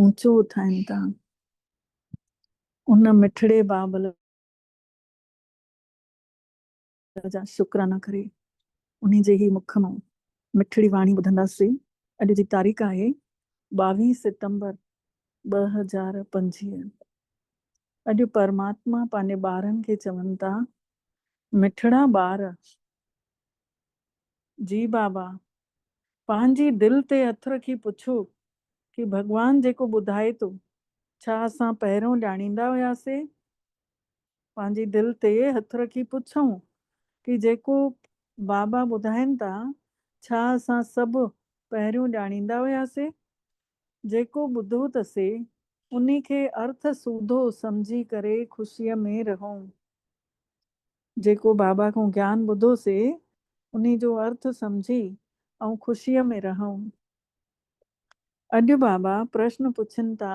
اوچو اٿائين ٿا. ان مٺڙي بابل جا شڪرانا ڪري، انهي جي هي مک مان مٺڙي واڻي ٻڌنداسين. اڄ جي تاريخ آهي ٻاويهه ستمبر ٻه هزار پنجويهه. اڄ پرماتما پنهنجي ٻارن کي چون ٿا، مٺڙا ٻار جي بابا! پنهنجي دل تي هٿ رکي پڇو ڪي ڀڳوان جيڪو ٻڌائي ٿو، ڇا اسان پهريون ڄاڻيندا هياسي؟ پنهنجي دل تي هٿ رکي پڇون ڪي جيڪو بابا ٻڌائين ٿا، ڇا اسان سڀ پهريون ڄاڻيندا هياسي؟ جيڪو ٻڌو ته سي انهي کي ارٿ سوڌو سمجهي ڪري خوشيء ۾ رهون. جيڪو بابا کان گيان ٻڌو سي انهي جو ارٿ سمجهي آئون خوشيء ۾ رهيم. اڄ بابا پرشن پڇين ٿا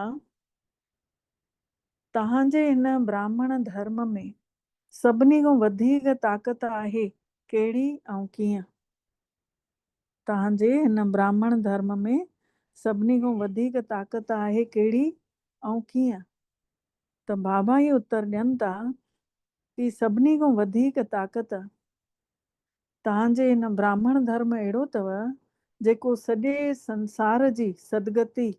توهان جي هن براهمڻ ڌرم ۾ سڀني کان وڌيڪ طاقت آهي ڪهڙي ۽ ڪيئن؟ توهان جي هن براهمڻ ڌرم ۾ سڀني کان وڌيڪ طاقت آهي ڪهڙي ۽ ڪيئن؟ ته بابا هي اتر ڏين ٿا ڪي سڀني کان وڌيڪ طاقت توهان جي هن براهمڻ ڌرم اهڙو اٿو جيڪو سڄي سنسار جي سدگتي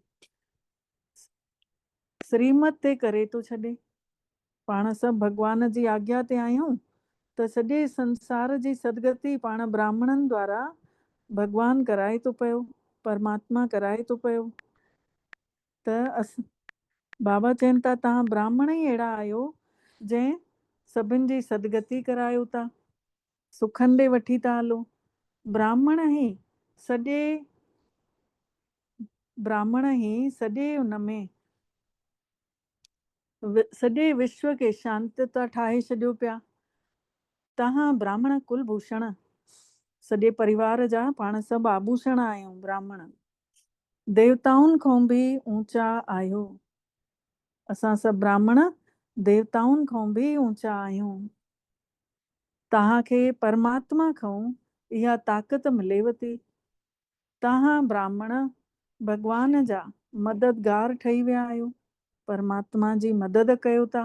سريمت تي ڪري ٿو ڇڏي. پاڻ سڀ ڀڳوان جي آگيا تي آهيون ته سڄي سنسار جي سدگتي پاڻ براهمڻن دوارا ڀڳوان ڪرائي ٿو پيو، پرماتما ڪرائي ٿو پيو. ته اسان. بابا چين ٿا توهان براهمڻ ئي اهڙا آهيو جنهن سڀن جي سدگتي ڪرايو ٿا، سکن ڏي وٺي ٿا هلو. براهمڻ هي سڄي براهمڻ هي سڄي ان ۾. سڄي وشو کي شانت ٿا ٺاهي ڇڏيو پيا. توهان براهمڻ ڪل ڀوشڻ سڄي پريوار جا پاڻ سڀ آڀوشڻ آهيون. براهمڻ. ديوتائن کان به اوچا آهيو. اسان سڀ براهمڻ ديوتائن کان به اوچا آهيون. توهان کي پرماتما کان اها طاقت مليو ٿي. توهان براهمڻ ڀڳوان جا مددگار ٺهي ويا آهيو. پرماتما جي مدد ڪيو ٿا.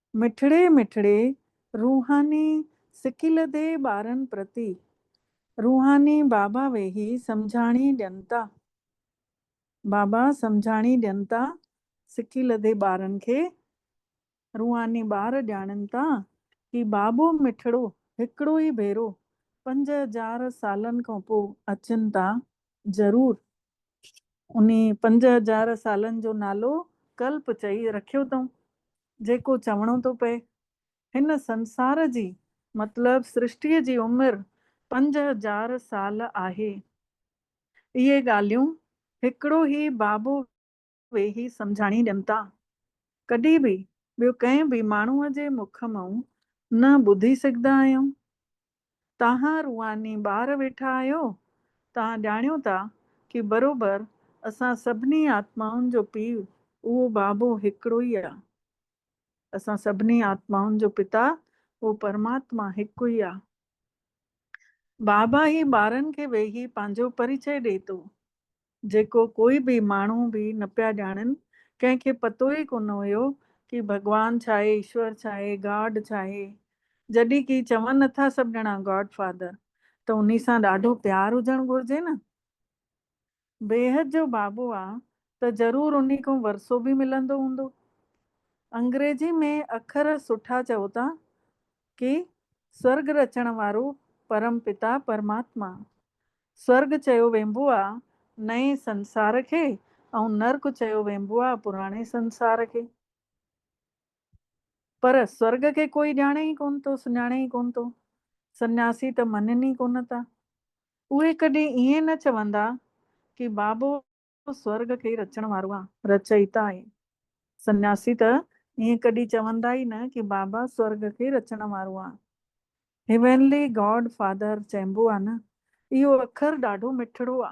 مٺڙي مٺڙي روحاني سڪيلڌي ٻارن پرتي روحاني بابا ويهي سمجهاڻي ڏين ٿا بابا سمجهاڻي ڏين ٿا سڪيلڌي ٻارن کي روحاني ٻار ڄاڻين ٿا هي بابو مٺڙو هڪڙو ئي ڀيرو پنج هزار سالن کانپو اچن ٿا ضرور انهي پنج هزار سالن جو نالو ڪلپ چئي رکيو اٿئون، جيڪو چوڻو ٿو پئي. هن سنسار جي، مطلب سرشٽيء جي عمر پنج هزار سال آهي. اهي ڳالهيون هڪڙو هي بابو ويهي سمجهاڻي ڏين ٿا. ڪڏهن به ٻيو ڪنهن به ماڻهوء جي مک مئون نه ٻڌي سگهندا آهيون. تهان روحاني ٻار ويٺا آهيو، تهان ڄاڻيو ٿا ڪي بروبر اسان سڀني آتمائن جو پيء اهو بابو هڪڙو ئي آ. اسان سڀني آتمائن جو پتا اهو پرماتما هڪ ئي آ. بابا هي ٻارن کي ويهي پنهنجو پريچئي ڏئي ٿو. جيڪو ڪوئي به ماڻهو به نه پيا ڄاڻن، ڪنهن کي پتو ئي ڪونه هيو ڪي ڀڳوان ڇا آهي، ايشور ڇا آهي، گاڊ ڇا آهي. جڏهن ڪي چون اٿا سڀ ڄڻا گاڊ فادر ته انهي سان ڏاڍو پيار هجڻ گهرجي نه. بيحد جو بابو آ ته ضرور انهي کان ورثو به ملندو هوندو. انگريزي ۾ اکر سٺا چئو ٿا ڪي سورڳ رچڻ وارو پرم پتا پرماتما سرڳ چيو وينبو آ نئين سنسار کي ۽ نرڪ چيو وينبو آ پراڻي سنسار کي. پر سرڳ کي ڪوئي ڄاڻي ئي ڪونه ٿو، سڃاڻي ئي ڪونه ٿو. سنياسي ته مڃن ئي ڪونه ٿا. اهي ڪڏهن ائين نه چوندا ڪي بابو تون سورگ کي ئي رچڻ وارو آن. رچئيتا ۽ سنياسي ته ائين ڪڏهن چوندا ئي نه ڪي بابا سورگ کي ئي رچڻ وارو آن. هيونلي گاڊ فادر چئبو آ نه. اهو اکر ڏاڍو مٺڙو آ.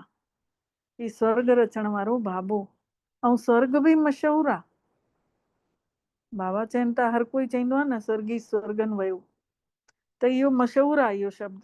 هي سورگ رچڻ وارو بابو ۽ سورگ به مشهور آ. بابا چين ته هر ڪوئي چئيندو آ نه سورگي سورگن ويو ته اهو مشهور آ اهو شبد.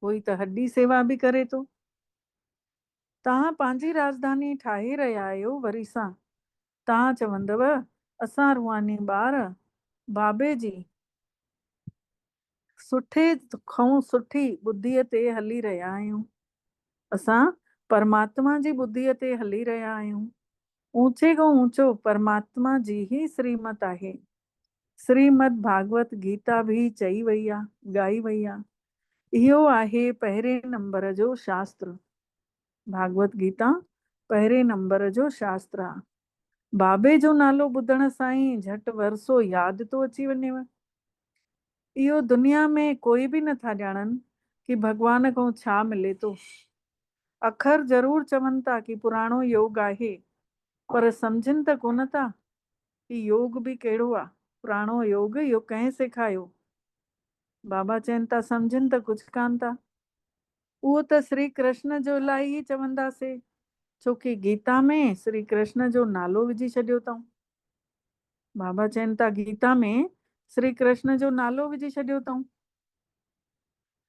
هو ئي ته هڏي سيوا به ڪري ٿو. توهان پنهنجي راڄڌاني ٺاهي رهيا آهيو وري سان توهان چوندؤ اسان روحاني ٻار بابي جي سٺي کئون سٺي ٻڌيء تي هلي رهيا آهيون. اسان پرماتما جي ٻڌيء تي هلي رهيا آهيون. اوچي کان اوچو پرماتما جي ئي سريمت آهي. سريمد ڀاڳوت گيتا به چئي وئي آ، ڳائي وئي آ. اهو آهي پهرين نمبر جو شاستر. ڀاڳوت گيتا پهرين نمبر جو شاستر آ. بابي جو نالو ٻڌڻ سان ئي جهٽ ورسو ياد ٿو اچي وڃيو. اهو دنيا ۾ ڪوئي به نه ٿا ڄاڻن ڪي ڀڳوان کان ڇا ملي ٿو. اکر ضرور چون ٿا ڪي پراڻو يوگ آهي پر سمجهن ته ڪونه ٿا ڪي يوگ به ڪهڙو آ پراڻو يوگ اهو ڪنهن سيکايو بابا چين ٿا سمجهن ته ڪجهه ڪانه ٿا اهو ته سري ڪرشن جو الائي ئي چوندا سي ڇو ڪي گيتا ۾ سري ڪرشن جو نالو وجهي ڇڏيو اتئون بابا چين ٿا گيتا ۾ سري ڪرشن جو نالو وجهي ڇڏيو اتئون.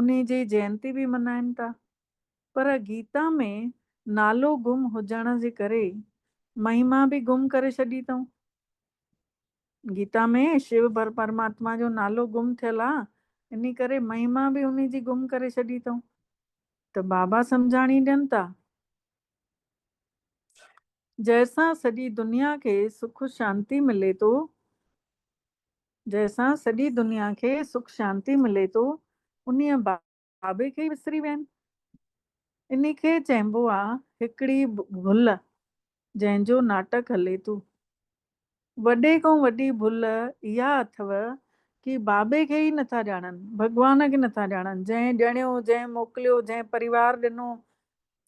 انهي جي جيئنتي به ملهائين ٿا. پر گيتا ۾ نالو گم هجڻ جي ڪري مهيما به گم ڪري ڇڏي اٿئون. گيتا ۾ شو پرماتما جو نالو گم ٿيل آ انهي ڪري مهيما به انهي جي گم ڪري ڇڏي اٿئون. ته بابا سمجهاڻي ڏين ٿا. جنهن سان سڄي دنيا کي سک شانتي ملي ٿو جنهن سان سڄي دنيا کي سک شانتي ملي ٿو انهيء بابي کي ئي وسري ويا آهن. انهي کي چئبو آ هڪڙي ڀل جنهن جو ناٽڪ هلي ٿو. وڏي کان وڏي ڀل اها اٿئو ڪي بابي کي ئي نٿا ڄاڻن، ڀڳوان کي نٿا ڄاڻن، جنهن ڄڻيو، جنهن موڪليو، جنهن پريوار ڏنو،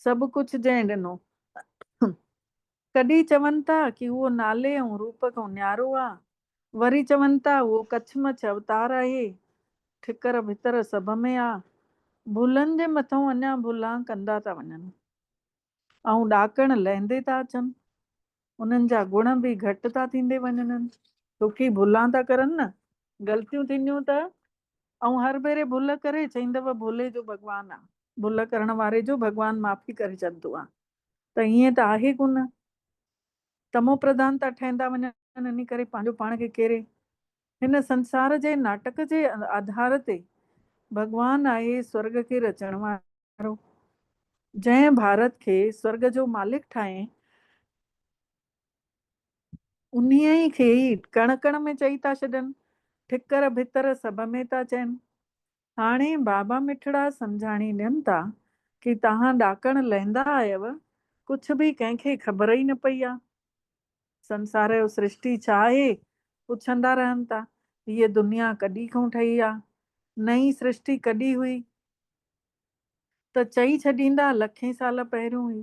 سڀ ڪجهه جنهن ڏنو. ڪڏهن چون ٿا ڪي اهو نالي ۽ روپ کان نيارو آ، وري چون ٿا اهو ڪڇ مڇ اوتار آهي، ٺڪر ڀتر سڀ ۾ آ، ڀلن جي مٿئون اڃا ڀلا ڪندا ٿا وڃن ۽ ڏاڪڻ لهندي ٿا اچن، انهن جا گڻ به گهٽ ٿا ٿيندي وڃنن. ڇوڪي ڀلا ٿا ڪرن نه، غلطيون ٿينديون ته ائون هر ڀيري ڀل ڪري چئيندو ڀولي جو ڀڳوان آ، ڀل ڪرڻ واري جو ڀڳوان معافي ڪري چئندو آ، ته ائين ته آهي ڪونه. تمو پرڌانتا ٺهندا وڃن ان ڪري پنهنجو پاڻ کي ڪيري. هن سنسار جي ناٽڪ جي آڌار تي ڀڳوان آهي سورڳ کي رچڻ وارو. جنهن ڀارت کي سورڳ جو مالڪ ٺاهين انهيء ئي کي ئي ڪڻ ڪڻ ۾ چئي ٿا ڇڏن، ٺڪر ڀتر سڀ ۾ ٿا چئن. هاڻي بابا مٺڙا سمجهاڻي ڏين تا ڪي تهان ڏاڪڻ لهندا آيو، ڪڇ به ڪنهن کي خبر ئي نه پئي آ. سنسار جو سرشٽي ڇا آهي؟ پڇندا رهن تا. هيء دنيا ڪڏي کون ٺهي آ؟ نئين سرشٽي ڪڏي هئي؟ ته چئي ڇڏيندا لکين سال پهريون هئي.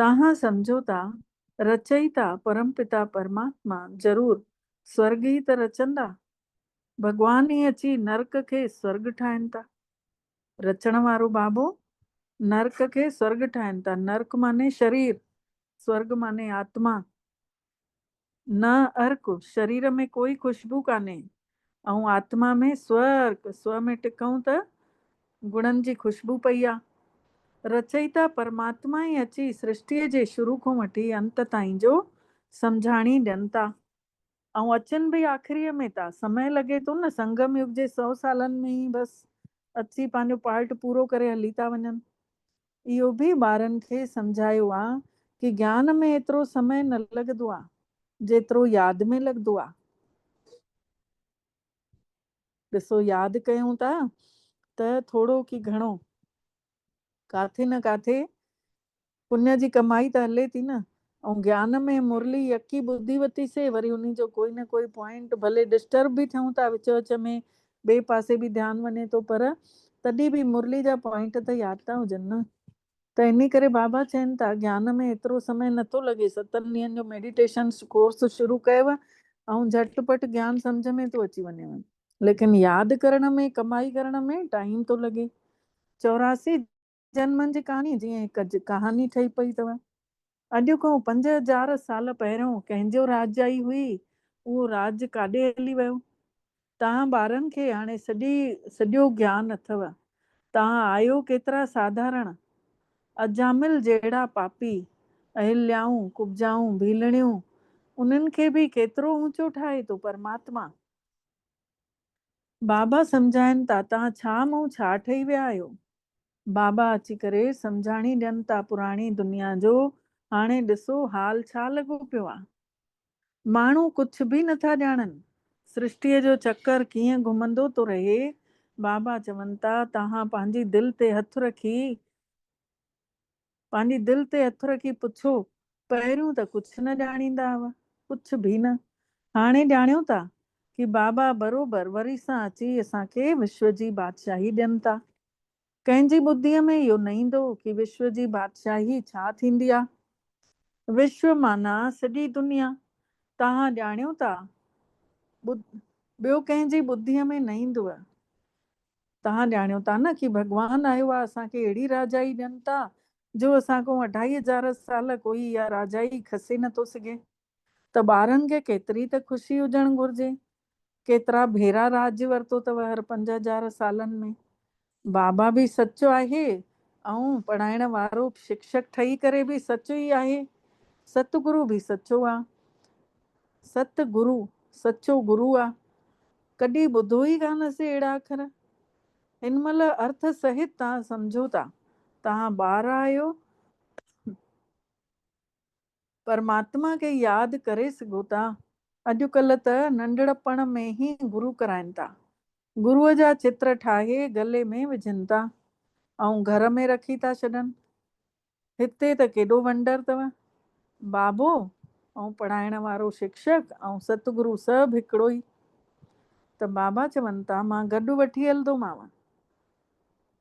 توهان سمجهو ٿا رچئيتا پرم پتا پرماتما ضرور سورگ ئي ته رچندا؟ ڀڳوان ئي اچي نرڪ کي سورگ ٺاهين ٿا. رچڻ وارو بابو نرڪ کي سورگ ٺاهين ٿا. نرڪ معني شرير، سورگ معني آتما. نه ارڪ، شرير ۾ ڪوئي خوشبو ڪانهي. آئون آتما ۾ سوء ارڪ، سوء ۾ ٽڪئون ته گڻن جي خوشبو پئي آ. رچئيتا پرماتما ئي اچي سرشٽيء جي شروع کون وٺي انت تائين جو سمجهاڻي ڏين ٿا. آئون اچن ڀئي آخريء ۾ ٿا. سمئي لڳي ٿو نه، سنگم يگ جي سئو سالن ۾ ئي بس اچي پنهنجو پارٽ پورو ڪري هلي ٿا وڃن. اهو به ٻارن کي سمجهايو آ ڪي گيان ۾ ايترو سمئي نه لڳدو آ جيترو ياد ۾ لڳدو آ. ڏسو ياد ڪيون ٿا ته ٿورو ڪي گهڻو ڪاٿي نه ڪاٿي پڃ جي ڪمائي ته هلي ٿي نه ائون گيان ۾ مرلي يڪي ٻڌي وتي سي وري انهي جو ڪوئي نه ڪوئي پوائنٽ ڀلي ڊسٽرب به ٿيون ٿا وچ وچ ۾ ٻئي پاسي به ڌيان وڃي ٿو پر تڏهن به مرلي جا پوائنٽ ته ياد ٿا هجن نه ته انهي ڪري بابا چين ٿا گيان ۾ ايترو سمي نه ٿو لڳي ستن ڏينهن جو ميڊيٽيشن ڪورس شروع ڪيو ۽ جهٽ پٽ گيان سمجهه ۾ ٿو اچي وڃيو ليڪن ياد ڪرڻ ۾ ڪمائي ڪرڻ ۾ ٽائيم ٿو لڳي چوراسي جن من جي ڪهاڻي جيئن هڪ ڪهاڻي ٺهي پئي اٿو. اڄ کان پنج هزار سال پهريون ڪنهن جو راڄ آئي هئي، اهو راڄ ڪاڏي هلي ويو. توهان ٻارن کي هاڻي سڄي سڄو گيان اٿو. توهان آهيو ڪيترا ساڌارڻ. اجامل جهڙا پاپي، اهليائون، ڪبجائون، ڀيلڻيون، انهن کي به ڪيترو اونچو ٺاهي ٿو پرماتما. بابا سمجهائن تا تان ڇا مون ڇا ٺهي ويا آهيو. بابا اچي ڪري سمجهاڻي ڏين تا پراڻي دنيا جو هاڻي ڏسو حال ڇا لڳو پيو آ. ماڻهو ڪڇ به نه ٿا ڄاڻن. سرشٽيء جو چڪر ڪيئن گهمندو ٿو رهي. بابا چون تا تهان پنهنجي دل تي هٿ رکي. پنهنجي دل تي هٿ رکي پڇيو، پهريون ته ڪجهه نه ڄاڻيندا هئا، ڪجهه ڀي نه. هاڻي ڄاڻيو ٿا ڪي بابا بروبر وري سان اچي اسان کي وشو جي بادشاهي ڏين ٿا. ڪنهن جي ٻڌيء ۾ اهو نه ايندو ڪي وشو جي بادشاهي ڇا ٿيندي آ. وشو معنيٰ سڄي دنيا. توهان ڄاڻيو ٿا ٻڌ ٻيو ڪنهن جي ٻڌيء ۾ نه ايندوء. توهان ڄاڻيو ٿا نه ڪي ڀڳوان آهي اها اسان کي اهڙي راجائي ڏين ٿا جو اسان کان اڍائي هزار سال ڪوئي اها راجائي کسي نه ٿو سگهي ته ٻارن کي ڪيتري ته خوشي هجڻ گهرجي ڪيترا ڀيرا راڄ ورتو اٿو هر پنج هزار سالن ۾ بابا به سچ آهي ۽ پڙهائڻ وارو شڪشڪ ٺهي ڪري به سچ ئي آهي ست گرو به سچو آ ست گرو سچو گرو آ ڪڏهن ٻڌو ئي ڪانه هئسي اهڙا اکر. هن مهل ارٿ سهت تان سمجهو ٿا. توهان ٻار آهيو پرماتما کي ياد ڪري سگهو ٿا. اڄ ڪلهه ته ننڍڙپڻ ۾ ئي گرو ڪرائين ٿا. گرو جا چتر ٺاهي گلي ۾ وجهن ٿا ۽ گهر ۾ رکي ٿا ڇڏن. هتي ته ڪيڏو ونڊر تئ بابو ۽ پڙهائڻ وارو شڪشڪ ۽ ست گرو سڀ هڪڙو ئي ته بابا چون ٿا مان گڏ وٺي هلندومانء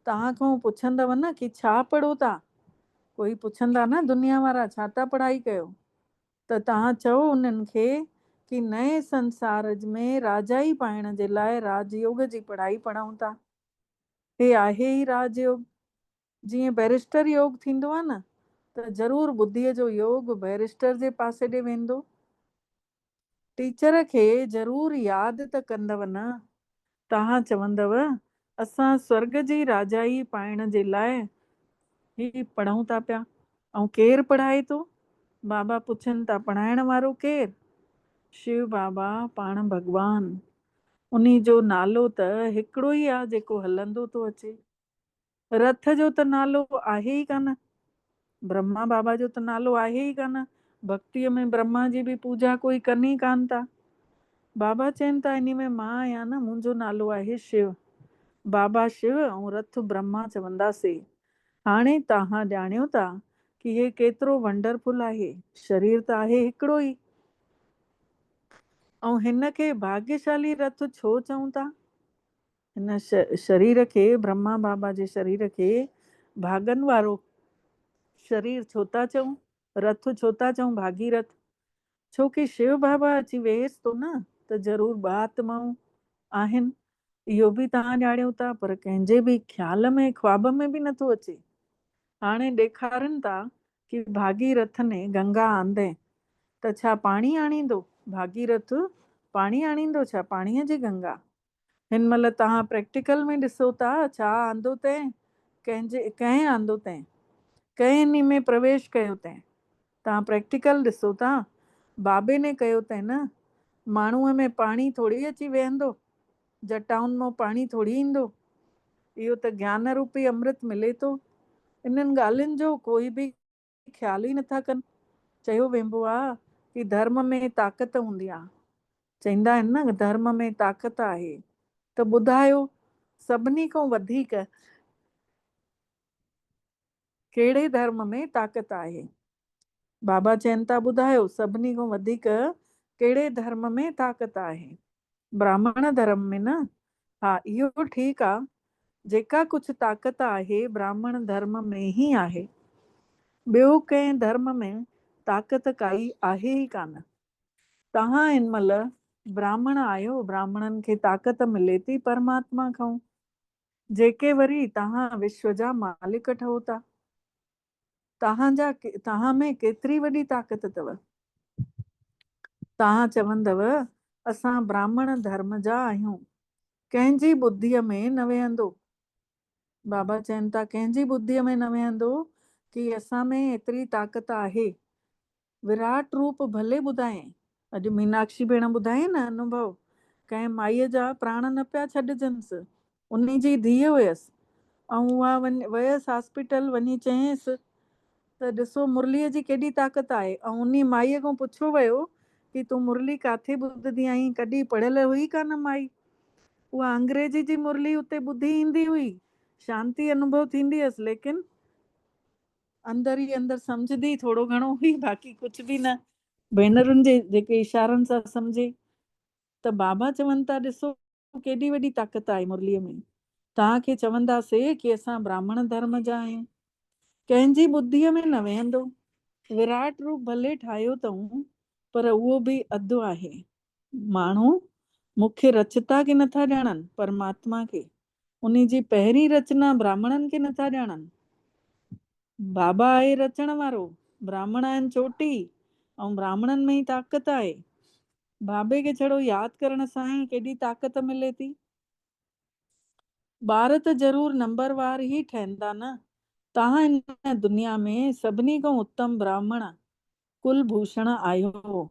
توهان کان پڇندؤ نه ڪي ڇا پڙهو ٿا ڪوئي پڇندا نه دنيا وارا ڇا ٿا پڙهائي ڪيو ته توهان چئو انهن کي ڪي نئين سنسار ۾ راجائي پائڻ جي لاء راج يوگ جي پڙهائي پڙهون ٿا هي آهي ئي راج يوگ جيئن بئريسٽر يوگ ٿيندو آ نه ته ضرور ٻڌيء جو يوگ بئريسٽر جي پاسي ڏي ويندو. ٽيچر کي ضرور ياد ته ڪندؤ نه. توهان چوندؤ اسان سورڳ جي راجائي پائڻ جي لاء هي پڙهون ٿا پيا ۽ ڪير پڙهائي ٿو؟ بابا پڇن ٿا پڙهائڻ وارو ڪير؟ شو بابا پاڻ ڀڳوان. انهي جو نالو ته هڪڙو ئي آ جيڪو هلندو ٿو اچي. رٿ جو ته نالو آهي ئي ڪانه، برهما بابا جو ته نالو آهي ئي ڪانه، ڀڳتيء ۾ برهما جي به پوڄا ڪوئي ڪن ئي ڪانه ٿا. بابا چين ٿا انهي ۾ مان آهيان نه، منهنجو نالو آهي شو. بابا شو ۽ رٿ برهما چوندا سي. هاڻي تاهان ڄاڻيو ٿا ڪي هي ڪيترو ونڊر فل آهي. شرير ته آهي هڪڙو ئي. ۽ هن کي ڀاڳيشالي رٿ ڇو چئون ٿا؟ هن شرير کي، برهما بابا جي شرير کي، ڀاڳن وارو شرير ڇو ٿا چئون؟ رٿ ڇو ٿا چئون ڀاڳي رٿ؟ ڇو ڪي شيو بابا اچي ويهيس ٿو نه ته ضرور ٻه آتمائون آهن، اهو به توهان ڄاڻيو ٿا پر ڪنهن جي به خيال ۾ خواب ۾ به نه ٿو اچي. هاڻي ڏيکارين ٿا ڪي ڀاڳي رٿ ني گنگا آندين ته ڇا پاڻي آڻيندو؟ ڀاڳي رٿ پاڻي آڻيندو ڇا؟ پاڻيء جي گنگا؟ هن مهل توهان پريڪٽيڪل ۾ ڏسو ٿا ڇا آندو تين ڪنهن جي ڪنهن آندو تين ڪنهن انهي ۾ پرويش ڪيو تين توهان پريڪٽيڪل ڏسو ٿا بابي ني ڪيو تين نه ماڻهوء ۾ پاڻي ٿوري اچي ويهندو جٽائن مون پاڻي ٿوري ايندو اهو ته گيان روپي امرت ملي ٿو انهن ڳالهين جو ڪوئي به خيال ئي نٿا ڪن. چيو وينبو آ ڪي ڌرم ۾ طاقت هوندي آ. چئيندا آهن نه ڌرم ۾ طاقت آهي ته ٻڌايو سڀني کان وڌيڪ ڪهڙي ڌرم ۾ طاقت آهي؟ بابا چين ٿا ٻڌايو سڀني کان وڌيڪ ڪهڙي ڌرم ۾ طاقت آهي؟ براهمڻ ڌرم ۾ نه ها اهو ٺيڪ آ، جيڪا ڪجهه طاقت آهي براهمڻ ڌرم ۾ هي آهي. ٻيو ڪنهن ڌرم ۾ طاقت ڪائي آهي ئي ڪانه. توهان هن مهل براهمڻ آهيو براهمڻن کي طاقت ملي ٿي پرماتما کئون، جيڪي وري توهان وشو جا مالڪ ٺهو ٿا. توهان جا توهان ۾ ڪيتري وڏي طاقت اٿو؟ توهان چوندؤ، اسان براهمڻ ڌرم جا آهيون. ڪنهن جي ٻڌيء ۾ نه ويهندو. بابا چين ٿا، ڪنهن جي ٻڌيء ۾ نه ويهندو ڪي اسان ۾ ايتري طاقت آهي. وراٽ روپ ڀلي ٻڌائين. اڄ ميناڪشي ڀيڻ ٻڌايائين نه انوڀو، ڪنهن مائيء جا پراڻ نه پيا ڇڏجنس، انهي جي ڌيء هيس، ۽ اها ويس هاسپيٽل، وڃي چيائينس ته ڏسو مرليء جي ڪيڏي طاقت آهي، ۽ انهي مائيء کان پڇيو ويو ته تون مرلي ڪاٿي ٻڌدي آهين، ڪڏهن پڙهيل هئي ڪانه مائي، اها انگريزي جي مرلي اتي ٻڌي ايندي هئي، شانتي انوڀو ٿيندي هيس، ليڪن. اندر ئي اندر سمجهندي ٿورو گهڻو هئي باقي ڪجهه به نه. ڀينرن جي جيڪي اشارن سان سمجهي ته بابا چون ٿا ڏسو ڪيڏي وڏي طاقت آهي مرليء ۾. توهان کي چوندا سي ڪي اسان براهمڻ ڌرم جا آهيون. ڪنهن جي ٻڌيء ۾ نه ويهندو. وراٽ روپ ڀلي ٺاهيو تئون پر اهو به اڌ آهي. ماڻهو مون کي رچتا کي نٿا ڄاڻن پرماتما کي انهي جي پهرين رچنا براهمڻن کي نٿا ڄاڻن. بابا آهي رچڻ وارو، براهمڻ آهن چوٽي ۽ براهمڻن ۾ ئي طاقت آهي. بابي کي ڇڙو ياد ڪرڻ سان ئي ڪيڏي طاقت ملي ٿي. ٻار ته ضرور نمبر وار ئي ٺهندا نه، تان هن دنيا ۾ سڀني کان اتم براهمڻ ڪل ڀوشڻ آهيو هو.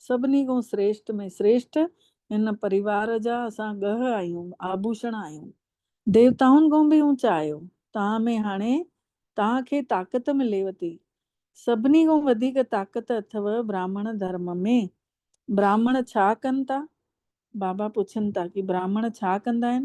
سڀني کان سريشٽ ۾ سريشٽ هن پريوار جا اسان ڳهه آهيون، آڀوشڻ آهيون. ديوتائن کان به اوچا آهيو. توهان ۾ هاڻي توهان کي طاقت مليو ٿي. سڀني کان وڌيڪ طاقت اٿئو براهمڻ ڌرم ۾. براهمڻ ڇا ڪن ٿا؟ بابا پڇن ٿا ڪي براهمڻ ڇا ڪندا آهن؟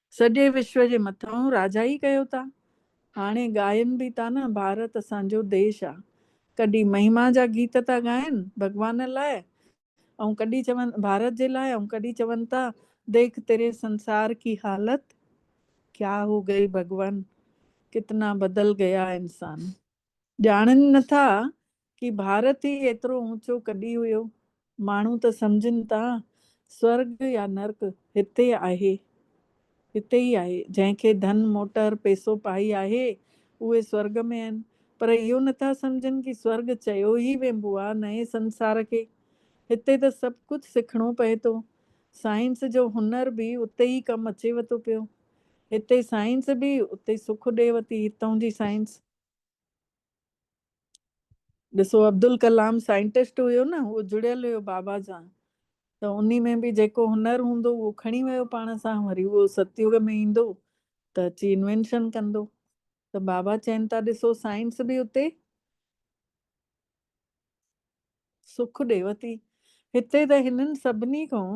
سڄي وشو جي مٿانهون راجا ئي ڪيو ٿا هاڻي ڳائين به ٿا نه ڀارت اسان جو ديش آ ڪڏي مهما جا گيت ٿا ڳائين ڀڳوان لاء ۽ ڪڏي چون ڀارت جي لاء ۽ ڪڏي چون ٿا ديک تيري سنسار ڪي حالت ڪيا هو گئي ڀڳوان ڪتنا بدل گيا انسان. ڄاڻن نه ٿا ڪي ڀارت ئي ايترو اوچو ڪڏي هيو. ماڻهو ته سمجهن ٿا سورڳ يا نرڪ هتي آهي هتي ئي آهي. جنهن کي ڌن موٽر پيسو پائي آهي اهي سورڳ ۾ آهن پر اهو نه ٿا سمجهن ڪي سورڳ چيو ئي وينبو آ نئين سنسار کي. هتي ته سڀ ڪجهه سکڻو پئي ٿو. سائنس جو هنر به اتي ئي ڪم اچي وتو پيو. هتي سائنس به اتي سک ڏي وتي هتون جي سائنس. ڏسو عبدالڪلام سائنٽسٽ هيو نه هو جڙيل هيو بابا سان ته انهي ۾ به جيڪو هنر هوندو اهو کڻي ويو پاڻ سان وري اهو ستيوگ ۾ ايندو ته اچي انوينشن ڪندو ته بابا چين ٿا ڏسو سائنس به اتي سک ڏيو ٿي. هتي ته هنن سڀني کان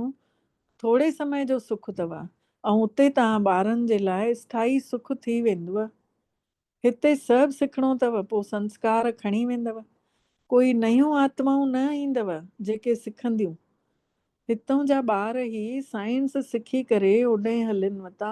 ٿوري سمي جو سک اٿو ۽ اتي توهان ٻارن جي لاء اسٿائي سک ٿي ويندو. هتي سڀ سکڻو اٿو پوء سنسڪار کڻي ويندو. ڪوئي نيون آتمائون نه ايندو جيڪي سکنديون. هتون جا ٻار هي سائنس سکي ڪري هوڏهين هلين وتا.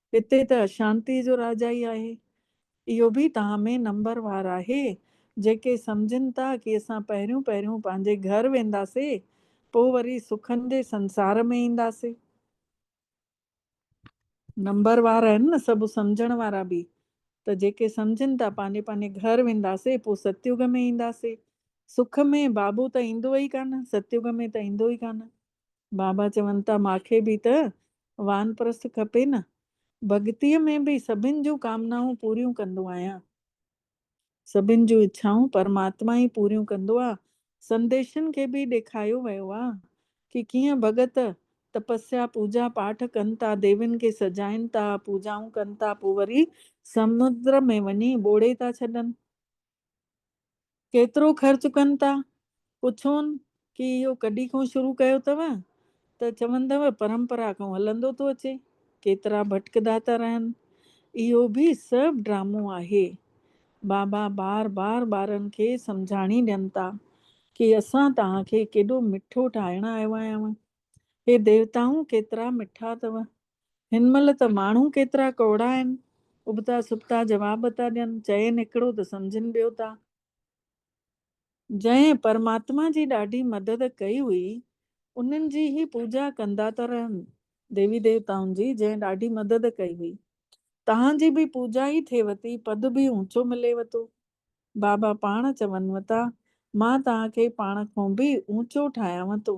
هتي ته اشانتيء جو راجا ئي آهي. اهو به تهان ۾ نمبر وار آهي، جيڪي سمجهن ٿا ڪي اسان پهريون پهريون پنهنجي گهر وينداسي، پو وري سکن جي سنسار ۾ اينداسي. نمبر وار آهن نه سڀ سمجهڻ وارا به، ته جيڪي سمجهن ٿا پنهنجي پنهنجي گهر وينداسي، پو ستيوگ ۾ اينداسي. سک ۾ بابو ته ايندو ئي ڪانه، ستيوگ ۾ ته ايندو ئي ڪانه. بابا چون ٿا ماکي به ته وانپرست کپي نه. ڀڳتيء ۾ به سڀن جون ڪامنائون پوريون ڪندو آهيان. سڀن جون اڇائون پرماتما ئي پوريون ڪندو آ. سنديشن کي به ڏيکايو ويو آ ڪي ڪيئن ڀڳت تپسيا پوڄا پاٺ ڪن ٿا، ديوين کي سجائين ٿا، پوڄائون ڪن ٿا پوء وري سمنڊ ۾ وڃي ٻوڙي ٿا ڇڏن. ڪيترو خرچ ڪن ٿا؟ پڇون ڪي اهو ڪڏي کون شروع ڪيو اٿو ته چوندو پرمپرا کون هلندو ٿو اچي، ڪيترا ڀٽڪدا ٿا رهن، اهو به سڀ ڊرامو آهي. بابا بار بار ٻارن کي سمجهاڻي ڏين ٿا ڪي اسان توهان کي ڪيڏو مٺو ٺاهڻ آيو آهيانو، هي ديوتائون ڪيترا مٺا اٿو، هن مهل ته ماڻهو ڪيترا ڪوڙا آهن، ابتا سبتا جواب ٿا ڏين، چين هڪڙو ته سمجهن ٻيو ٿا. جنهن پرماتما جي ڏاڍي مدد ڪئي هئي، انهن جي هي پوڄا ڪندا ٿا رهن، ديوي ديوتائن جي جنهن ڏاڍي مدد ڪئي هئي، تهان جي به پوڄا ئي ٿئيو ٿي، پد به اونچو مليو ٿو. بابا پاڻ چون ٿا، مان تهان کي پاڻ کون به اونچو ٺاهيانو ٿو.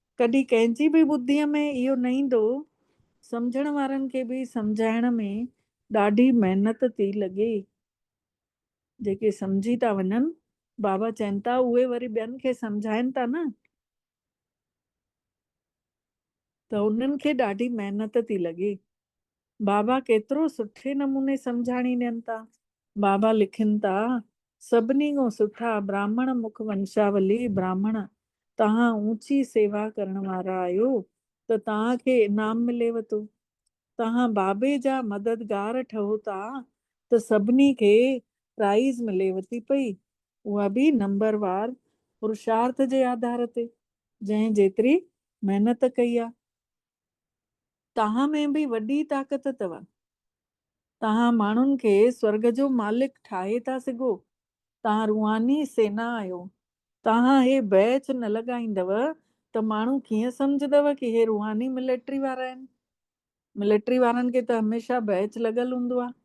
ڪڏهن ڪنهن جي به ٻڌيء ۾ اهو نه ايندو، سمجهڻ وارن کي به سمجهائڻ ۾ ڏاڍي محنت ٿي لڳي. جيڪي سمجهي ٿا وڃن، بابا چين ٿا، اهي وري ٻين کي سمجهائن ٿا نه، ته انهن کي ڏاڍي محنت ٿي لڳي. بابا ڪيترو سٺي نموني سمجهاڻي ڏين ٿا. بابا لکن ٿا، سڀني کان سٺا براهمڻ مک ونشاولي براهمڻ توهان اوچي سيوا ڪرڻ وارا آهيو ته توهان کي انعام مليو ٿو. توهان بابي جا مددگار ٺهو ٿا ته سڀني کي پرائيز مليو ٿي پئي اها به نمبر وار پرشارٿ جي آڌار تي جنهن جيتري محنت ڪئي آهي. توهان ۾ به وڏي طاقت اٿو. توهان ماڻهن کي سورڳ جو مالڪ ٺاهي ٿا سگهو. توهان روحاني سينا آهيو. توهان هي بيچ نه لڳائيندؤ ته ماڻهو ڪيئن سمجهندؤ ڪي هي روحاني ملٽري وارا آهن. ملٽري وارن کي ته هميشه بيچ لڳل هوندو آهي.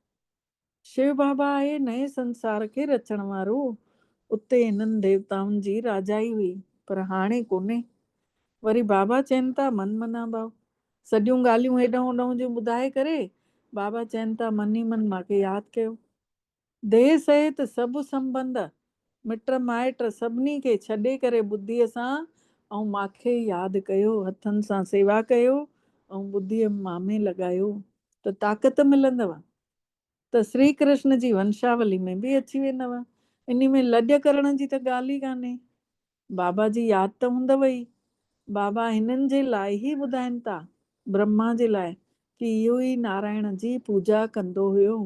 شو بابا آهي نئين سنسار کي رچڻ وارو، اتي هنن ديوتائن جي راجائي هئي، پر هاڻي ڪونهي. وري بابا چين ٿا من منا ڀاء. سڄيون ڳالهيون هيڏانهن هوڏانهن جون ٻڌائي ڪري، بابا چين ٿا من ئي من مان کي ياد ڪيو. ديس اهي ته سڀ سنبنڌ مٽ مائٽ سڀني کي ڇڏي ڪري ٻڌيء سان ۽ ماکي ياد ڪيو، هٿن سان سيوا ڪيو ۽ ٻڌيء مامي لڳايو ته طاقت ملندو ته سري ڪرشن جي ونشاولي ۾ به اچي ويندو، انهي ۾ لڄ ڪرڻ جي ته ڳالهه ئي ڪانهي. بابا جي ياد ته هوندو ئي. بابا هنن جي لاء ئي ٻڌائين ٿا، برهما جي لاء ڪي اهو ئي نارائڻ جي پوڄا ڪندو هيو.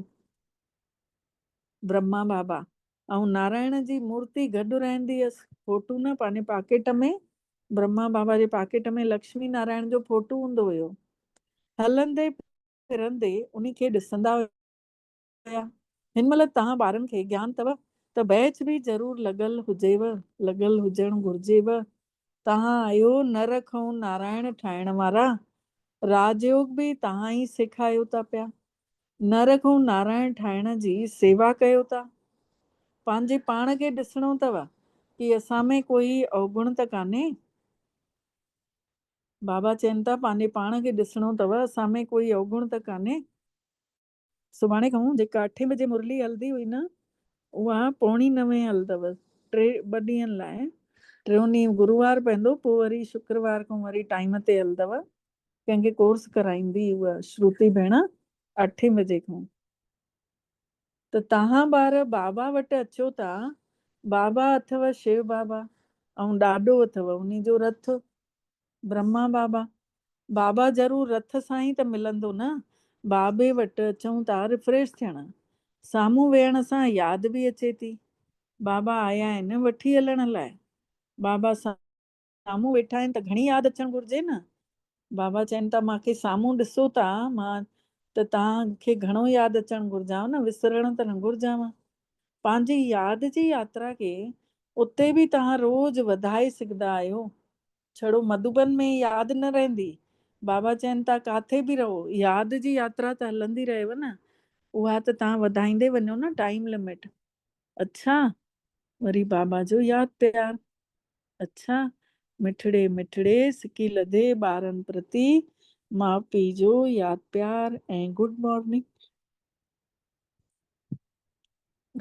برهما بابا. آئون نارائڻ جي مورتي گڏ رهندي هيس. فوٽو نه پنهنجي پاڪيٽ ۾. برهما بابا جي پاڪيٽ ۾ لڪشمي نارائڻ جو فوٽو هوندو هيو. هلندي ڦرندي انهي کي ڏسندا هيا. هن مهل توهان ٻارن کي گيان اٿو ته بيچ به ضرور لڳل هجيو. لڳل هجڻ گهرجيو. توهان آهيو نر کئون نارائڻ ٺاهڻ وارا. راج يوگ به توهان ئي سيکايو ٿا پيا. نه رڳو نارائڻ ٺاهڻ جي سيوا ڪيو ٿا، پنهنجي پاڻ کي ڏسڻو اٿو ڪي اسان ۾ ڪوئي اوگڻ ته ڪانهي؟ بابا چين ٿا پنهنجي پاڻ کي ڏسڻو اٿو اسان ۾ ڪوئي اوگڻ ته ڪانهي؟ سڀاڻي کان جيڪا اٺين بجي مرلي هلندي هئي نه اها پوڻي نوين هلندو ٽي ٻه ڏينهن لاء، ٽيون ڏينهن گروار پوندو پوء وري شڪروار کان وري ٽائيم تي هلندو ڪنهن کي ڪورس ڪرائيندي اها شروتي ڀيڻ اٺين بجي کان ته توهان ٻار بابا وٽ اچو ٿا بابا اٿو شيو بابا ۽ ڏاڏو اٿو انهي جو رٿ برهما بابا بابا ضرور رٿ سان ئي ته ملندو نه بابي وٽ اچون ٿا ريفريش ٿيڻ سامهون ويهڻ سان ياد به اچي ٿي بابا آيا آهن وٺي هلڻ لاء بابا سان سامهون ويٺا آهن ته گهڻي ياد اچڻ گهرجي نه. بابا چين ٿا مان کي سامهون ڏسو ٿا مان ته توهان کي گهڻو ياد اچڻ گهرجانء نه وسرڻ ته نه گهرجانء. پنهنجي ياد جي ياترا کي اتي به توهان روز وڌائي سگهندا آهيو. ڇڙو مڌوبن ۾ ياد نه رهندي. بابا چين ٿا ڪاٿي به رهو ياد جي ياترا ته هلندي رهيو نه. اها ته توهان وڌائيندي وڃو نه ٽائيم لمٽ. اڇا! وري بابا جو ياد پيار. اڇا! مٺڙي مٺڙي سڪي لڌي ٻارن پرتي ماء پيء جو ياد پيار ۽ گڊ مارننگ.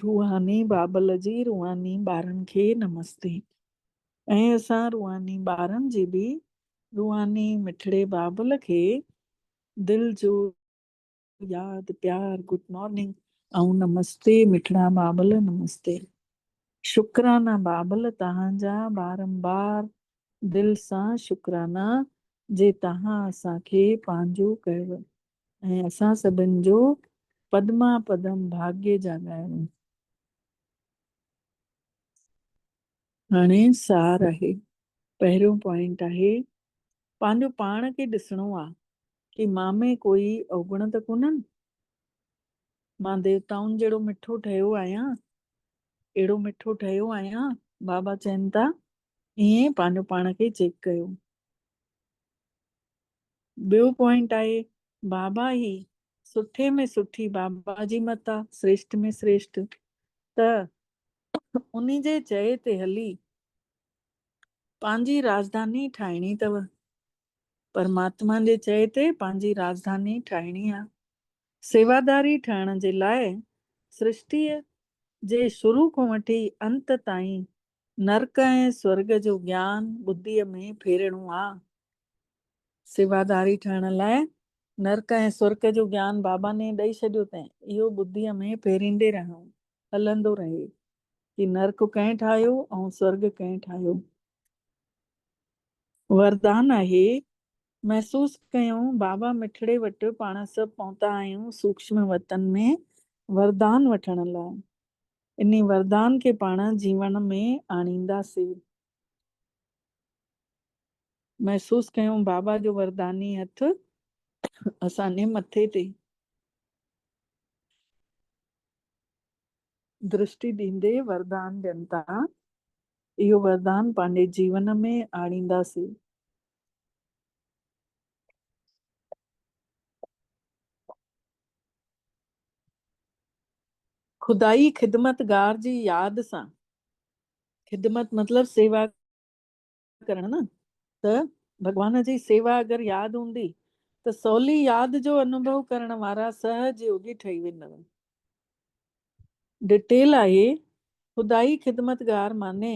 روحاني بابل جي روحاني ٻارن کي نمستي ۽ اسان روحاني ٻارن جي به روحاني مٺڙي بابل کي دل جو. ياد پيار گڊ مارننگ ائون نمستي مٺڙا بابل نمستي شڪرانا بابل تهان جا بارمبار دل سان شڪرانا جي تهان اسان کي پنهنجو ڪيو ۽ اسان سڀن جو پدما پدم ڀاگي جا ڳايو هاڻي سار آهي پهريون پوائنٽ آهي پنهنجو پاڻ کي ڏسڻو آ ڪي مان ۾ ڪوئي اوگڻ ته ڪونهن؟ مان ديوتائن جهڙو مٺو ٺهيو آهيان؟ اهڙو مٺو ٺهيو آهيان؟ بابا چين ٿا، ائين پنهنجو پاڻ کي چيڪ ڪيو. ٻيو پوائنٽ آهي بابا هي سٺي ۾ سٺي بابا جي مت آ، سريشٽ ۾ سريشٽ ته ان جي چئي تي هلي پنهنجي راڄڌاني ٺاهڻي اٿو. پرماتما جي چئي تي پنهنجي راڄڌاني ٺاهڻي آ. سيواداري ٺهڻ جي لاء سرشٽيء جي شروع کان وٺي انت تائين نرڪ ۽ سورڳ جو گيان ٻڌيء ۾ ڦيرڻو آ. سيواداري ٺهڻ لاء نرڪ ۽ سورڳ جو گيان باباني ڏئي ڇڏيو تين اهو ٻڌيء ۾ ڦيريندي رهڻو هلندو رهي ڪي نرڪ ڪنهن ٺاهيو ۽ سورڳ ڪنهن ٺاهيو. وردان آهي. محسوس ڪيون بابا مٺڙي وٽ پاڻ سڀ پهتا آهيون سوڪشم وطن ۾ وردان وٺڻ لاء. انهي وردان کي پاڻ جيوڻ ۾ آڻينداسي. محسوس ڪيون بابا جو ورداني هٿ اسان جي مٿي تي. درشٽي ڏيندي وردان ڏين ٿا، اهو وردان پنهنجي جيون ۾ آڻينداسين. خدائي خدمتگار جي ياد سان، خدمت مطلب سيوا، ڪرڻ نه ته ڀڳوان جي سيوا اگر ياد هوندي ته سولي ياد جو انوڀو ڪرڻ وارا سهج يوگي ٺهي ويندؤ. ڊٽيل آهي، خدائي خدمتگار معني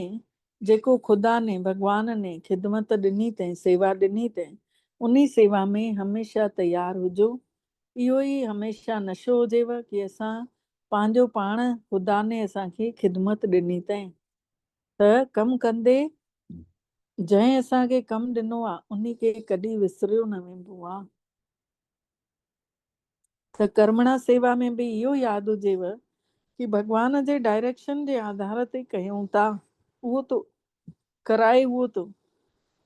جيڪو خدا ني، ڀڳوان ني، خدمت ڏني تين، سيوا ڏني تين، انهي سيوا ۾ هميشه تيار هجو. اهو ئي هميشه نشو هجيو ڪي اسان پنهنجو پاڻ خدا ني اسان کي خدمت ڏني تين. ته ڪم ڪندي جنهن اسان کي ڪم ڏنو آ انهي کي ڪڏهن وسريو نه ويندو آ ته ڪرمڻا سيوا ۾ به اهو ياد هجيو ڪي ڀڳوان جي ڊائريڪشن جي آڌار تي ڪيون ٿا اهو ته ڪرائي اهو ته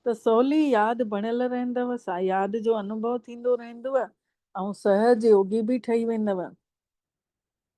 ته سولي ياد بڻيل رهندو سا ياد جو انوڀو ٿيندو رهندو ۽ سهج يوگي به ٺهي ويندو.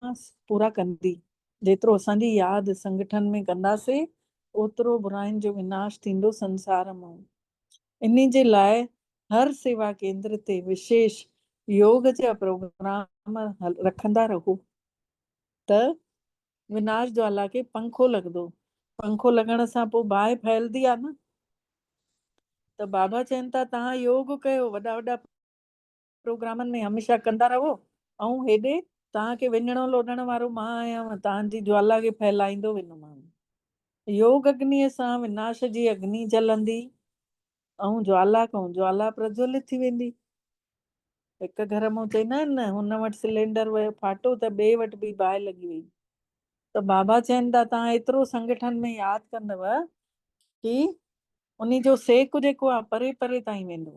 ماس پورا ڪندي. جيترو اسان جي ياد سنگٺن ۾ ڪنداسي اوترو براين جو وناش ٿيندو سنسار مون انهي جي لاء هر سيوا ڪيندر تي وشيش يوگ جا پروگرام رکندا رهو ته وناش جوالا کي پنکو لڳندو پنکو لڳڻ سان پو باهه ڦهلدي آ نه ته بابا چين ٿا تهان يوگ ڪيو وڏا وڏا پروگرامن ۾ هميشه ڪندا رهو ۽ هيڏي توهان کي وڃڻو لوڏڻ وارو مان آهيان و توهان جي جوالا کي ڦهلائيندو ويندومانو يوگ اگنيء سان وناش جي اگني جلندي ۽ جوالا کان جوالا پرجولت ٿي ويندي. هڪ گهر مون چئينا آهن نه هن وٽ سلينڊر ويو ڦاٽو ته ٻئي وٽ به باهه لڳي وئي ته بابا چين ٿا توهان ايترو سنگٺن ۾ ياد ڪندوه ڪي انهي جو سيڪ جيڪو آهي پري پري تائين ويندو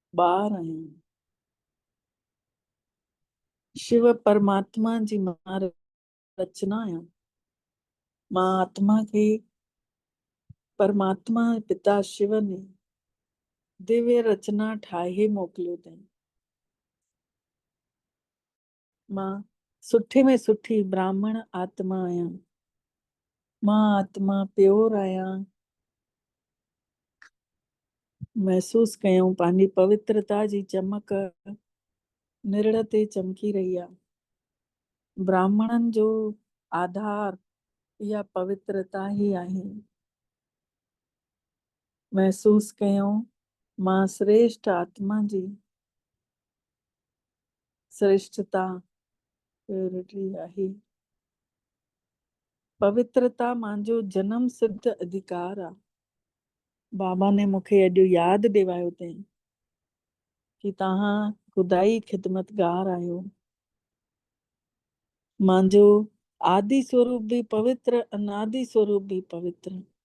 ٻار آهيان. شو پرماتما جي مان رچنا آهيان. مان آتما کي پرماتما پتا شو ني ديوي رچنا ٺاهي موڪليو تائين. مان سٺي ۾ سٺي براهمڻ آتما آهيان. مان آتما پيور آهيان. محسوس ڪيون پنهنجي پوترتا جي چمڪ نرڙ تي چمڪي رهي آهي. براهمڻن جو آڌار اها پوترتا ئي آهي. محسوس ڪيون مان سريشٽ آتما جي سرشٽتا پيورٽي آهي. پوترتا مانجو جنم سڌ اڌيڪار آ. بابا ني مون کي اڄ ياد ڏيوايو تئين ڪي تهان خدائي خدمتگار آهيو. مانجو آدي سوروپ به پوتر انادي سوروپ به پوتر.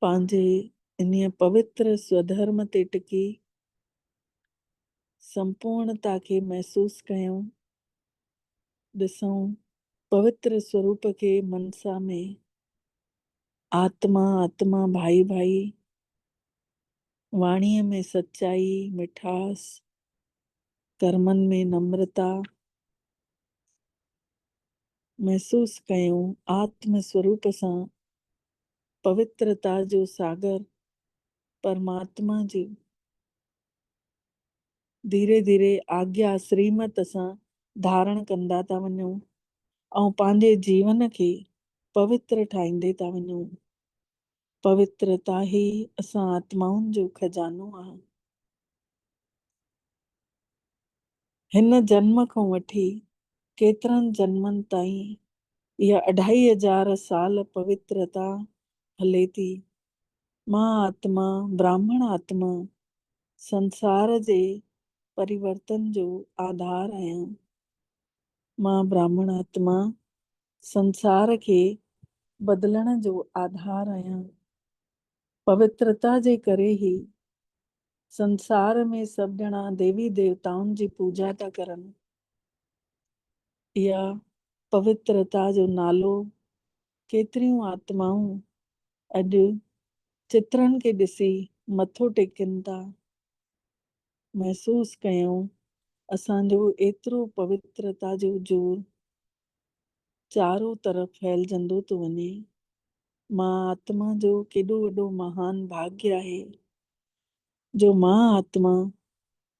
پنهنجي انهيء پوتر سوڌرم تي ٽڪي سمپورڻتا کي محسوس ڪيون، ڏسون. پوتر سوروپ کي منسا ۾، آتما، آتما، ڀائي، ڀائي، واڻيء ۾ سچائي، مٺاس، ڪرمن ۾ نمرتا، محسوس ڪيون، آتم سوروپ سان پوترتا جو ساگر پرماتما جي ڌيري ڌيري آگيا سريمت سان ڌارڻ ڪندا ٿا وڃون ۽ پنهنجي جيون کي پوتر ٺاهيندي ٿا وڃون. پوترتا ئي اسان آتمائن جو خزانو آهي. هن جنم کان وٺي ڪيترن جنمن تائين اها اڍائي هزار سال پوترتا هلي ٿي. مان آتما، براهمڻ آتما، سنسار جي پريورتن جو آڌار آهيان. مان براهمڻ آتما، سنسار کي بدلڻ جو آڌار آهيان. پوترتا جي ڪري هي سنسار ۾ سڀ ڄڻا ديوي ديوتائن جي پوڄا ٿا ڪرن. اها پوترتا جو نالو ڪيتريون آتمائون اڄ چترن کي ڏسي مٿو ٽيڪن ٿا. محسوس ڪيون اسان جو ايترو پوترتا جو زور چارون طرف ڦهلجندو ٿو وڃي. مان آتما جو ڪيڏو وڏو مهان ڀاڳيء آهي، جو مان آتما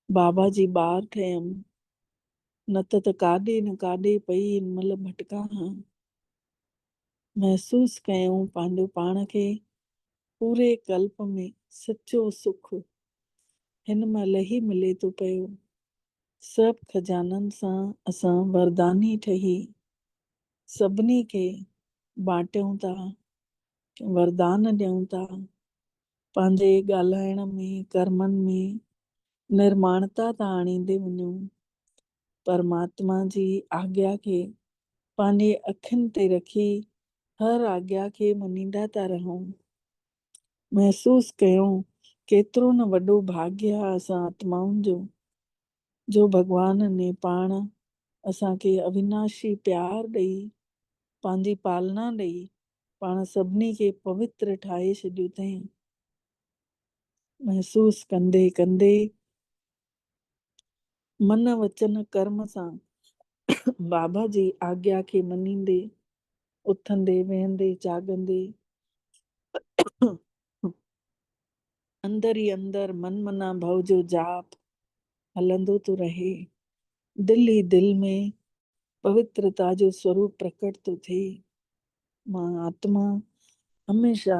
بابا جي ٻار ٺهيم، نه ته ته ڪاڏي نه ڪاڏي پئي ان مهل ڀٽڪان ها. محسوس ڪيائون پنهنجو پاڻ کي پوري قلب ۾ سچو سک هن مهل هي ملي ٿو پيو. سڀ خزانن سان اسان ورداني ٺهي سڀني کي بانٽيون ٿا، وردان ڏيون ٿا. پنهنجي ڳالهائڻ ۾، ڪرمن ۾ نرماڻتا ٿا آڻيندي وڃون. پرماتما جي آگيا کي پنهنجي اکين تي رکي هر آگيا کي مڃيندا ٿا رهون. محسوس ڪيو ڪيترو نه وڏو ڀاڳيا آهي اسان آتمائن جو جو ڀڳوان ني پاڻ اسان کي اويناشي پيار ڏئي پنهنجي پالنا ڏئي پاڻ سڀني کي پوتر ٺاهي ڇڏيو اٿئين. محسوس ڪندي ڪندي من وچن ڪرم سان بابا جي آگيا کي مڃيندي، اٿندي، ويهندي، جاڳندي، اندر ئي اندر من منا ڀو جو جاپ هلندو ٿو رهي. دل ئي دل ۾ پوترتا جو سوروپ پرڪٽ ٿو ٿئي. مان آتما هميشه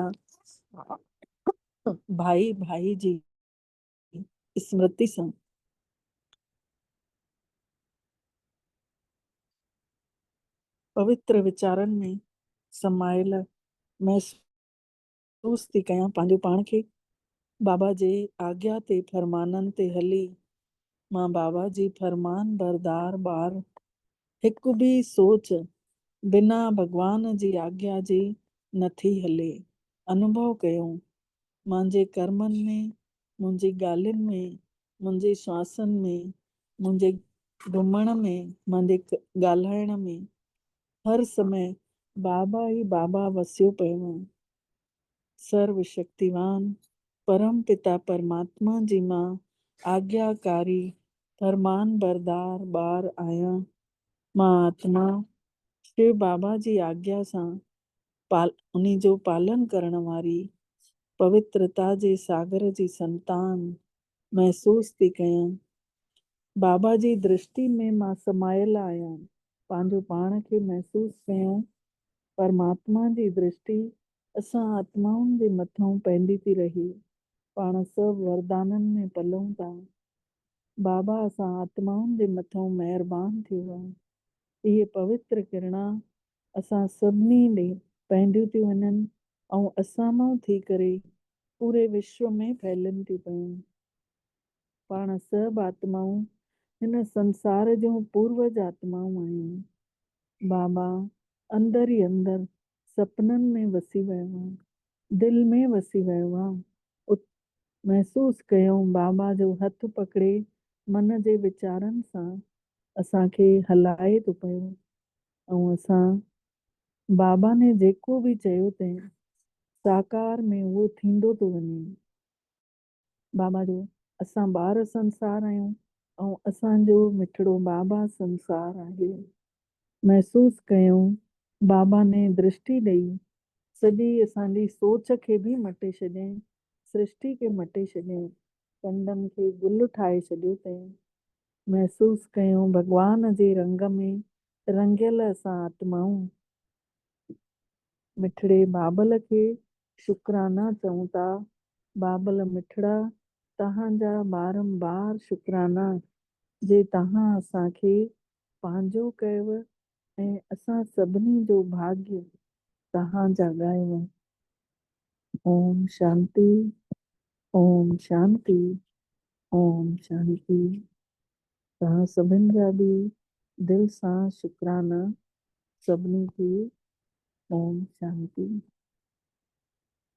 ڀائي ڀائي جي اسمرتي سان پوتر ويچارن ۾ سمايل محسوس ٿي ڪيان پنهنجو پاڻ کي بابا جي آگيا تي فرمانن تي هلي مان بابا جي فرمان بردار ٻار هڪ به سوچ بنا ڀڳوان جي آگيا جي نٿي هلي انوڀو ڪيو مانجي ڪرمن ۾، منهنجي ڳالهين ۾، منهنجي سواسن ۾، منهنجي گهمڻ ۾، مانجي ڳالهائڻ ۾، هر سمي بابا ئي بابا وسيو پيو هو. سرو شڪتيوان پرم پتا پرماتما جي مان آگياڪاري فرمان بردار ٻار آهيان. مان آتما شو بابا جي آگيا سان انهي جو پالن ڪرڻ واري پوترتا جي ساگر جي سنتان محسوس ٿي ڪيان. بابا جي درشتي ۾ مان سمايل آهيان. پنهنجو پاڻ کي محسوس ڪيان پرماتما جي درشتي اسان آتمائن جي مٿئون پئندي ٿي رهي. پاڻ سڀ وردانن ۾ پلون ٿا. بابا اسان آتمائن جي مٿئون مهربان ٿيو آهي. اهي پوتر ڪرڻا اسان سڀني ڏي پهنڊيون ٿيون وڃن ۽ اسان مان ٿي ڪري پوري وشو ۾ ڦهلن ٿيون پيون. پاڻ سڀ آتمائون هن سنسار جون پوروج آتمائون آهيون. بابا اندر ئي اندر سپنن ۾ وسي ويو آ. دل ۾ وسي ويو آ. ات محسوس ڪيون بابا جو هٿ پڪڙي من جي ويچارن سان اسان کي هلائي ٿو پيو. ائون اسان بابا ني جيڪو به چيو تين ساڪار ۾ اهو ٿيندو ٿو وڃي. بابا جو اسان ٻار سنسار آهيون ۽ اسان جو مٺڙو بابا سنسار آهي. محسوس ڪيون بابا ني درشٽي ڏئي سڄي اسان جي سوچ کي به مٽي ڇڏيائين سرشٽي کي مٽي ڇڏيائين ڪنڊن کي گل ٺاهي ڇڏيو تين محسوس ڪيون ڀڳوان جي رنگ ۾ رڱيل اسان آتمائون. مٺڙي بابل کي شڪرانا چئون ٿا. بابل مٺڙا توهان جا بارمبار شڪرانا جي توهان اسان کي پنهنجو ڪيو ۽ اسان سڀني جو ڀاڳي توهان جاڳايو. اوم شانتي اوم شانتي اوم شانتي توهان سڀن جا به دل سان شڪرانا سڀني کي اوم شانتي.